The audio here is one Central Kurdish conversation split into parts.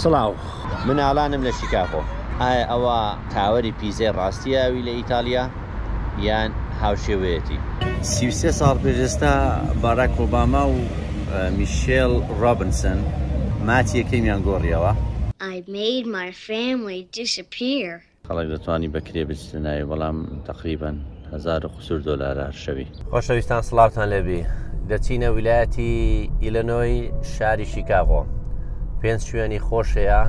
سڵاو مناڵانم لە شیکاگۆ. ئایا ئەوە تاوەری پیزای ڕاستی ئاوی لە ئیتاڵیا یان هاوشێوەیەتی؟ سی و سێ ساڵ پێش ئێستا باراک ئۆباما و میشێل ڕۆبنسن ماچی یەکەمیان گۆڕیەوە. I made my family disappear. خەڵک دەتوانی بە کرێ بچتە ناوی بەڵام تقریبا هزار و قسور دۆلار هەر شەوی خۆشەویستان سڵاوتان لێبی دەچینە ویلایەتی ئیلەنۆی شاری شیکاغۆ پێنج شوێنی خۆشەیە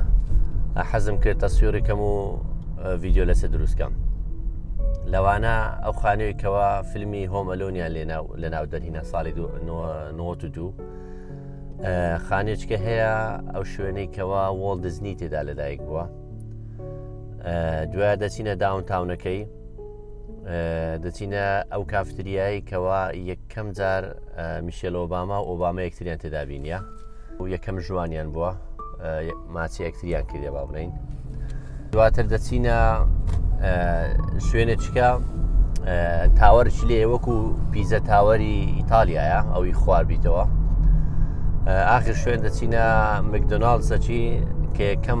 حەزم کرد تەسویڕیکەم و ڤیددیو لەسە دروستکەم لەوانە ئەو خانوویکەوە فیلمی هۆمەلۆنیان لێنا لە ناو دەرهینە ساڵی 92 خانێچکە هەیە ئەو شوێنێکەوە وڵ دزنی تێدا لەدایک بووە دوای دەچینە داون تاونەکەی دەچینە ئەو کافتریایی کەوا یەکەم جار میشێل ئۆباما و ئۆباما یەکتریان تێدابینە و یەکەم ژوانیان بووە ماچی یەکتریان کردێ با بڵین دواتر دەچینە شوێنێکە تاوەرش لێ وەکو پیزە تاوەری ئیتالیایە ئەوی خواربیتەوە ئاخر شوێن دەچینە مکدۆناال سەچی کە یەکەم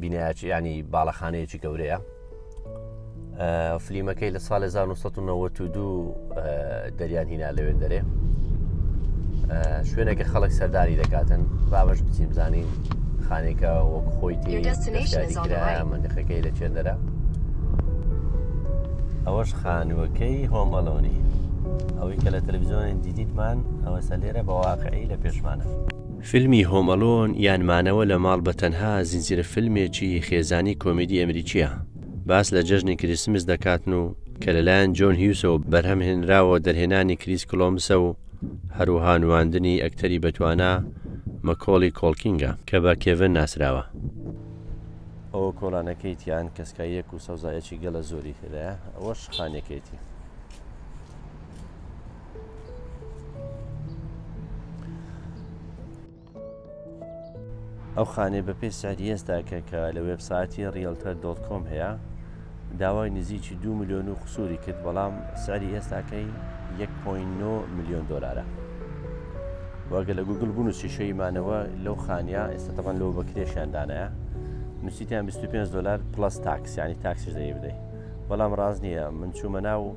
بینایەکی ینی باڵەخانەیەکی گەورەیە فلیمەکەی لە ساڵ 1992 دەریان هینا لەوێن دەرێ شوێنێکە خەڵک سەردانی دەکاتن بابش بچیم زانین خانێکە وەک خۆی تێکرایە مندەخەکەی لە چێندەرە ئەوەش خانووەکەی هۆمەڵۆنی ئەوەی کە لە تەلەڤزیۆنی دیدیتمان ئەوە سەلێرە بە واقعی لە پێشمانە فیلمی هۆم ئەلۆن یان مانەوە لە ماڵ بە تەنها زنجیرە فیلمێکی خێزانی کۆمیدی ئەمریکییە، باس لە جەژنی کریسمس دەکاتن و کە لەلایەن جۆن هیوسەوە بەرهەم هێنراوە دەرهێنانی کریس کلۆمسە و هەروەها نواندنی ئەکتەری بەتوانا مەکۆڵی کۆڵکینگە کە بە کێڤن ناسراوە. ئەوە کۆڵانەکەی تیان کەسکاییەک و سەوزایەکی گەلە زۆری تێدایە ئەوەش خانەکەیەتی. ئەو خانێ بە پێی سعری ئێستا کە کە لە وێبساتی ریلتەر دۆت کۆم هەیە داوای نزیکی دو میلیۆن و قسووری کرد بەڵام سعری ئێستاکەی 1.9 میلیۆن دلارە وەگە لە گوگل بوون و سیشەی مانەوە لەو خانیا ئێستا تەبان لەو بەکرێشیان دانایە نووسیتیان 25 دلار پلس تاکسیانی تاکسیش دەی بدەیت بەڵام ڕاست نییە من چوومە ناو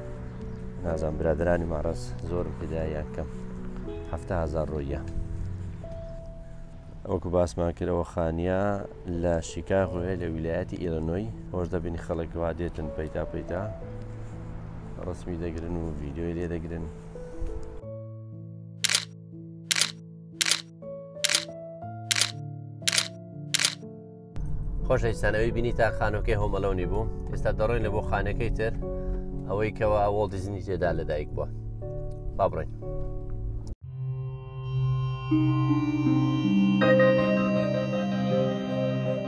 نازان برادرانی ماڕەز زۆرم پێدا یان کەم هەفتا هزار ڕۆیە ئەوکو باسمان کرەوە خانیا لە شیکاغۆێ لە ویلایەتی ئیرەنۆی هۆش دەبین خەڵکوا دێتن پەیتا پەیتا ڕسمی دەگرن و ڤیددیوی لێ دەگرن خۆشەویستانەوەی بینی تا خانەکەی هۆمەلۆنی بوو ئێستا دەڕۆین لە بۆ خانەکەی تر ئەوەی کەەوە ئەوڵ دیزنی تێدا لەدایک بووە با بڕین. Thank you.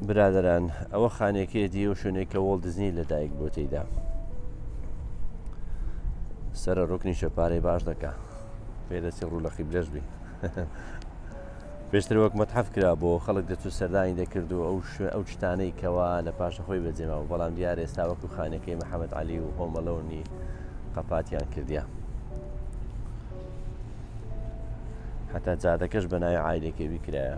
برادەران ئەوە خانێکەیەتی ئەو شوێنێک کە وڵ دزنی لە دایک بۆ تێیدا سرە ڕکنی شەپارەی باش دەکە پێدەچی ڕوو لە قیبلەش بی پێشتر وەک مەتحف کرا بۆ خەڵک دەچوو سەردانی دەکرد و ئەو شوێ ئەو شتانەی کەوا لە پاشە خۆی بەجێما و بەڵام دیار ئێستا وەکو خانەکەی محەممەد علی و هۆمەلەونی قەپاتیان کردیا حتا جادەکەش بە ناوی ئایلێکێوی کرایە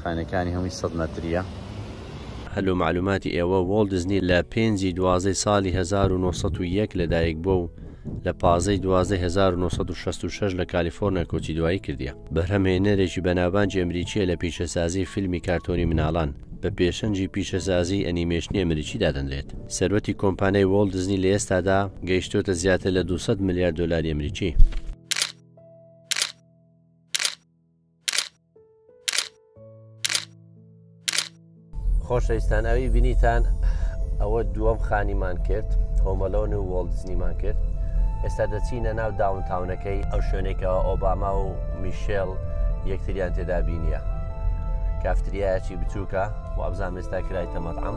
خانەکانی هەمووی سەد مەتریە. هەر لۆ مەعلوماتی ئێوە وۆڵت دیزنی لە پێنج ی دوازدەی سالی هەزار و نۆ سەد و یەک لە دایک بووە و لە پازدە ی دوازدەی هەزار و نۆ سەد و شەست و شەش لە کالیفۆرنیا کۆچی دوایی کردیە. بەرهەمهێنەرێکی بەناوبانگی ئەمریکیە لە پیشەسازی فیلمی کارتۆنی مناڵان، بە پێشەنگی پیشەسازی ئەنیمەیشنی ئەمریکی دادەنرێت. سەروەتی کۆمپانیای وۆڵت دیزنی لە ئێستادا گەیشتۆتە زیاتر لە دوو سەد ملیار دۆلاری ئەمریکی. خۆشەویستان ئەوی بینیتان ئەوە دووەم خانیمان کرد هۆمەلۆن و وۆڵدزنیمان کرد ئێستا دەچینە ناو داونتاونەکەی ئەو شوێنێکەوە ئۆباما و میشێل یەکتریان تێدا بینیە کافتریایەکی بچووکە وابزان ئێستا کرای تەمەەت ئەم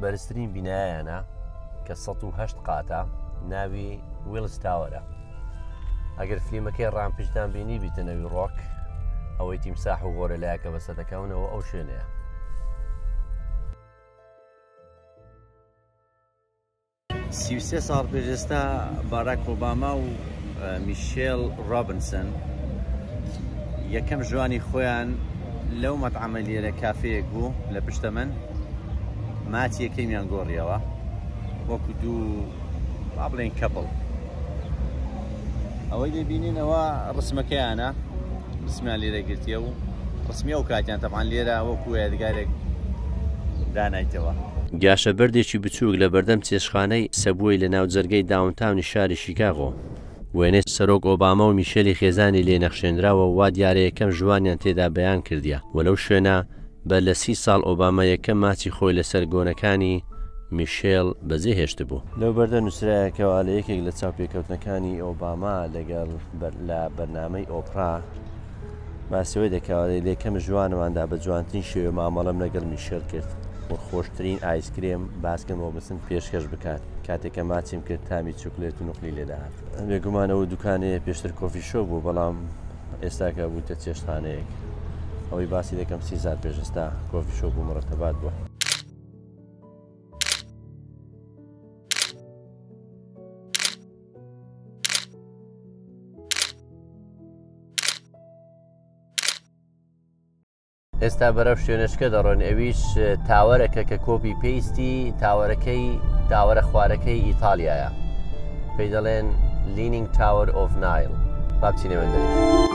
بەرزترین بینایانە کە 1970 قاتە ناوی ویلز تاوەرە ئەگەر فلیمەکەی ڕامپشدان بینی بیتەنەوی ڕۆک ئەوەی تیمساح و گۆرە لایەکە بەسە دەکەونەوە ئەو شوێنەیە سی و سێ ساڵ پێش ئێستا باراک ئۆباما و میشێل ڕۆبنسن یەکەم ژوانی خۆیان لەو مەتعەمە لێرە کافەیەک بوو لە پشتە من ماچی یەکەمیان گۆڕیەوە وەکو دوو با بڵێن کەپڵ ئەوەی دەبینین ئەوە ڕسمەکەیانە ڕسمیان لێرە گرتیە و ڕسمی ئەو کاتیان تەبان لێرە وەکو یادگارێک دانایتەوە. جاشە بەردێکی بچووک لە بەردەم چێشخانەی سەبوەی لە ناوجەرگەی داونتاونی شاری شیکاغۆ. وێنەی سەرۆک ئۆباما و میشێلی خێزانی لێ نەخشێنراوە و وا دیارە یەکەم ژووانیان تێدا بەیان کردیە و لەو شوێنە بە لە سی ساڵ ئۆباما یەکەم ماچی خۆی لەسەر گۆنەکانی میشێل بەجێ هێشتبوو. لەو بەردە نووسراە کەوا لە یەکێک لە چاوپێکەوتنەکانی ئۆباما لەگەڵ لە بەرنامەی ئۆپرا باسەوەی دەکەوادەی لە یەکەم ژوانماندا بە جوانترین شێوێ مامەڵەم لەگەڵ میشێل کرد و خۆشترین ئایسکرێم باسکم بۆ بسن پێشکەش بکات کاتێکە ماچیم کرد تامی چوکلێت و نقلی لێداهات بێگومانەوە دوکانەیە پێشتر کۆفی شۆ بوو بەڵام ئێستا کە بوویتە چێشتخانەیەک ئەوەی باسی دەکەم سی سال پێش ئێستا کۆفی شۆپ و مڕەتەبات بووە ئێستا بەرەو شوێنشکە دەڕۆن ئەویش تاوەرەکە کە کۆپی پێیستی تاوەرەکەی تاوەرە خوارەکەی ئیتالیایە پێی دەڵێن لینینگ تاوەر ئۆف نایل بابچینەوە دەێت.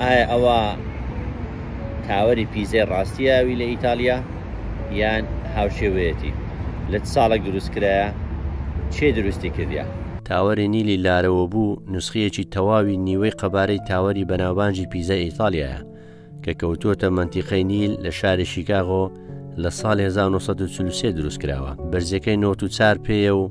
ئایا ئەوە تاوەری پیزای ڕاستیە ئەوی لە ئیتالیا یان هاوشێوەیەتی لە چ ساڵێک دروست کرایە چێ دروستی کردە؟ تاوەری نیلی لارەوەبوو نوسخەیەکی تەواوی نیوەی قەبارەی تاوەری بەناوبانجی پیزای ئیتالیایە کە کەوتووەتە مەنتیقەی نیل لە شاری شیکاغۆ لە ساڵ 1940 دروست کراوە بەرزەکەی 94 پێیە و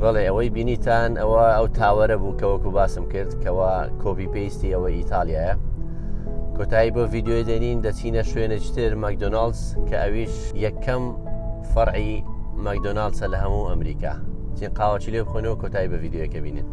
بەڵێ ئەوەی بینیتان ئەوە ئەو تاوەرە بوو کە وەکو باسم کرد کەەوە کۆبی پێیستی ئەوە ئیتالیایە کۆتایی بۆ ڤیددیوی دێنین دەچینە شوێنەجتر مەکدۆناالز کە ئەویش یەکەم فەرعی مەکدۆناالسە لە هەموو ئەمریکا چین قاوەچی لێ بخۆنەوە کۆتایی بە ڤیددیوەکە بینن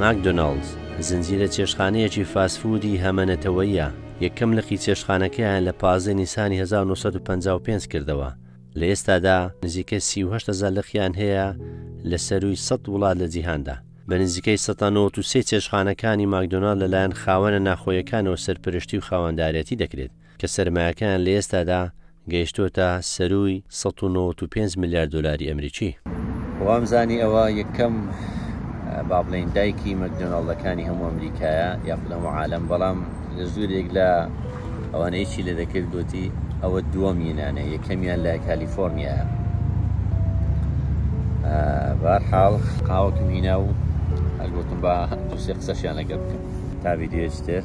ماکدۆناڵدز، زنجیرە چێشتخانەیەکی فاست فوودی هەمە نەتەوەییە، یەکەم لقی چێشتخانەکەیان لە پازدە نیسانی هەزار و نۆ سەد و پەنجا و پێنج کردەوە، لە ئێستادا نزیکەی سی و هەشت هەزار لقیان هەیە لە سەرووی سەد وڵات لە جیهاندا. بە نزیکەی سەتا نەوەد و سێ چێشتخانەکانی ماکدۆناڵد لەلایەن خاوەنە ناخۆییەکانەوە سەرپەرشتی و خاوەندارێتی دەکرێت. کە سەرمایەکەیان لە ئێستادا گەیشتووەتە سەرووی سەد و نەوەد و پێنج ملیار دۆلاری ئەمریکی. وامزانی ئەوە یەکەم با بڵێین دایکی مەکدۆناڵدەکانی هەموو ئەمریکایە یاخود هەموو عالەم، بەڵام لە زۆرێک لە ئەوانەی چی لێ دەکرد گوتی ئەوە دووەمینانە یەکەمیان لە کالیفۆرنیایە. بارحاڵ قاوەکم هینا و هەرگوتم بە دووسێ قسەشیان لەگەر بکەم تا ویددیوێتر.